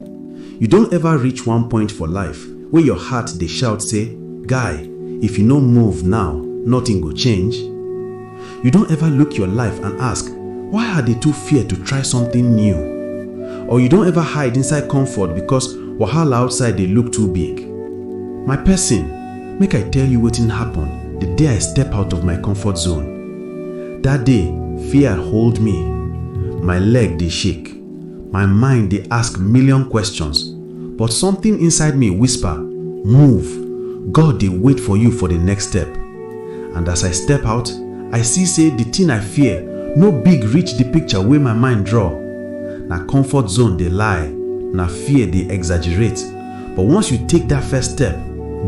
You don ever reach one point for life wey your heart dey shout say, Guy, if you no move now, nothing go change? You don ever look your life and ask, Why I dey too fear to try something new? Or you don ever hide inside comfort because wahala outside dey look too big? My person, make I tell you wetin happen the day I step out of my comfort zone. That day, fear hold me. My leg dey shake. My mind dey ask million questions, but something inside me whisper, Move! God dey wait for you for the next step. And as I step out, I see say the thing I fear no big reach the picture wey my mind draw. Na comfort zone dey lie, na fear dey exaggerate, but once you take that first step,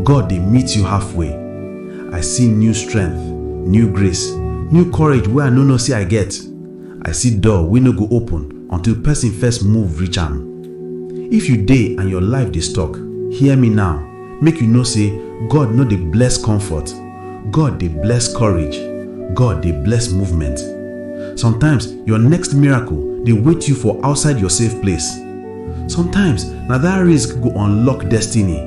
God dey meet you halfway. I see new strength, new grace, new courage wey I no know say I get. I see door wey no go open until person first move reach am. If you dey and your life dey stuck, hear me now, make you know say God no dey bless comfort, God dey bless courage, God dey bless movement. Sometimes your next miracle dey wait you for outside your safe place. Sometimes na that risk go unlock destiny.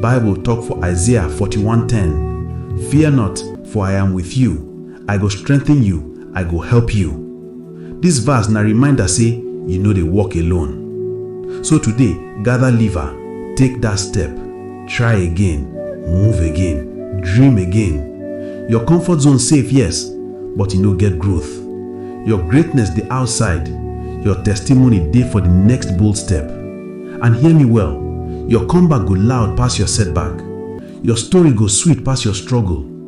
Bible talk for Isaiah 41:10, Fear not, for I am with you, I go strengthen you, I go help you. This verse na reminder say you no dey walk alone. So today, gather liver, take that step, try again, move again, dream again. Your comfort zone safe, yes, but you no get growth. Your greatness dey outside. Your testimony dey for the next bold step. And hear me well, your comeback go loud pass your setback. Your story go sweet pass your struggle.